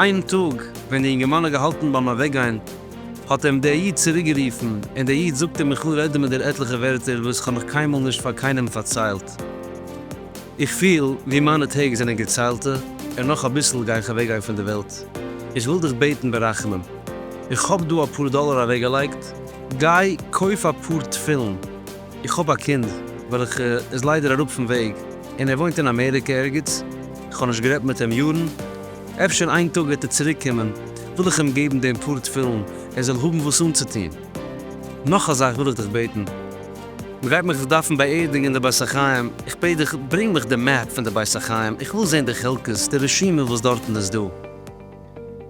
איין טאג ווען די אינגערמאן האט געהאלטן ביים אוועקגיין, האט אים דער איד צוריקגערופן, און דער איד זאגט אים, איך וויל רעדן מיט דיר עטליכע ווערטער וואס איך האב נאך קיינמאל נישט פאר קיינעם פארציילט. איך פיל ווי מיינע טעג זענען געציילטע, און נאך אביסל גיי איך אוועקגיין פון דער וועלט. איך וויל דיך בעטן ברחמים, איך האב דא אפאר דאלער אוועקגעלייגט, גיי קויף אפאר תפילין. איך האב א קינד וועלכע איז ליידער אראפ פון וועג און ער וואוינט אין אמעריקע ערגעץ, איך האב נישט גערעדט מיט אים יארן, אפשר איין טאג וועט ער צוריק קומען, וויל איך אים געבן דעם פאר תפילין ער זאל האבן וואס אנצוטון. נאך א זאך וויל איך דיך בעטן, מען גייט מיך דארפן באערדיגן אין די בית החיים, איך בעט דיך ברענג מיך די מעפ פון די בית החיים, איך וויל זען די חלקות, די רשימה וואס דארטן איז דא.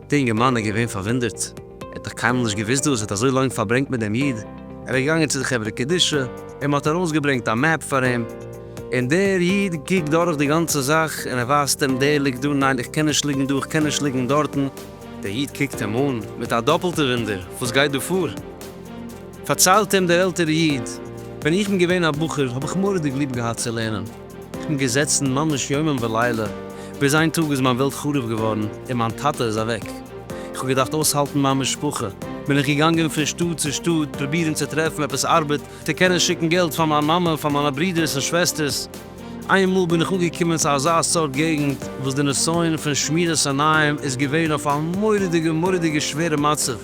די אינגערמאן איז געווען פארוואונדערט, ער האט דאך קיינמאל נישט געוואוסט דאס, ער האט אזוי לאנג פארברענגט מיט דעם איד, ער איז געגאנגען צו די חברה קדישא און מען האט ארויסגעברענגט א מעפ פאר אים, און דער איד קוקט דורך די גאנצע זאך און ער ווייזט אים, דער ליגט דא, ניין איך קען נישט ליגן דא, איך קען נישט ליגן דארטן. דער איד קוקט אים אן מיט א דאפלטע וואונדער, וואס גייט דא פאר? פארציילט אים דער עלטערע איד, ווען איך בין געווען א בחור האב איך מורא'דיג ליב געהאט צו לערנען, כ'בין געזעצן ממש יומם ולילה, ביז איין טאג איז מיין וועלט חרוב געווארן און מיין טאטע איז אוועק. איך האב געדארפט אויסהאלטן מיין משפחה, בין איך געגאנגען פון שטאט צו שטאט פרובירן צו טרעפן עפעס ארבעט צו קענען שיקן געלט פאר מיין מאמע, פאר מיינע ברודערס און שוועסטערס. איינמאל בין איך אנגעקומען צו אזא סארט געגנט וואס די נסיון פון שמירת עיניים איז געווען אויף א מורא'דיגע מורא'דיגע שווערע מצב.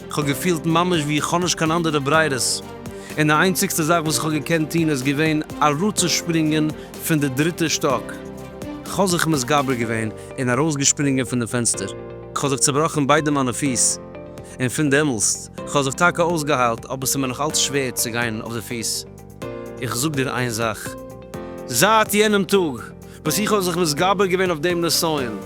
איך האב געפילט ממש ווי איך האב נישט קיין אנדערע ברירות, און די איינציגסטע זאך וואס איך האב געקענט טון איז געווען אראפצושפרינגען פון די דריטע שטאק. איך האב זיך מתגבר געווען און ארויסגעשפרינגען פון די פענסטער. איך האב זיך צובראכן ביידע מיינע פיס, און פון דעמאלסט, איך האב זיך טאקע אויסגעהיילט, אבער ס'איז מיר נאך אלץ שווער צו גיין אויף די פיס. איך זאג דיר איין זאך, זייט יענעם טאג וואס איך האב זיך מתגבר געווען אויף דעם נסיון,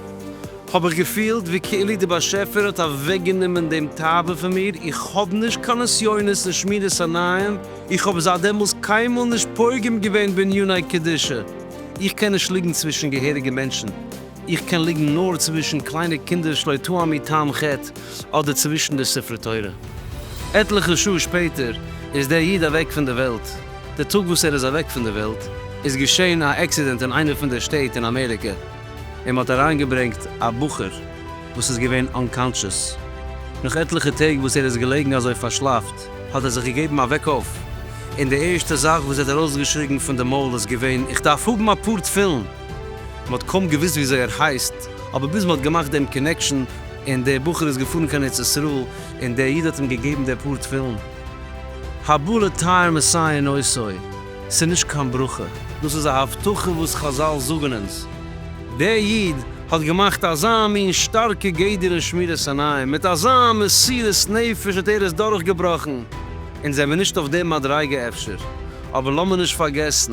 האב איך געפילט ווי כאילו די באשעפער האט אוועקגענומען דעם תאווה פון מיר, איך האב נישט קיין נסיונות אין שמירת עיניים, איך האב זייט דעמאלס קיינמאל נישט פוגם געווען בעניני קדושה, איך קען נישט ליגן צווישן געהעריגע מענטשן. איך קען ליגן נאר צווישן קליינע קינדער שלא טעם מי טעם חטא אדער צווישן די ספרי תורה. עטליכע שעה שפעטער איז דער איד אוועק פון די וועלט. די טאג וואס ער איז אוועק פון די וועלט איז געשען א עקסידענט אין איינע פון די שטעט אין אמעריקע און מען האט אריינגעברענגט א בחור וואס איז געווען אנקאנטשעס. נאך עטליכע טעג וואס ער איז געלעגן אזוי פארשלאפט האט ער זיך געגעבן א וועק אויף און די ערשטע זאך וואס ער האט ארויסגעשריגן פון די מויל איז געווען איך דארף האבן אפאר תפילין! מען האט קוים געוואוסט וויאזוי ער הייסט, אבער ביז מען האט געמאכט דעם קאנעקשאן, און דער בחור איז געפארן קיין ארץ ישראל, און דער איד האט אים געגעבן די פאר תפילין. הבא לטהר מסייע נושאי, ס'איז נישט קיין ברכה. דאס איז א הבטחה וואס חזל זאגן אונז. דער איד האט געמאכט אזא מין שטארקע גדר אין שמירת עיניים, מיט אזא מסירות נפש האט ער עס דורכגעבראכן. אונז זעמיר נישט אויף דער מדריגה אפשר, אבער לאמיר נישט פארגעסן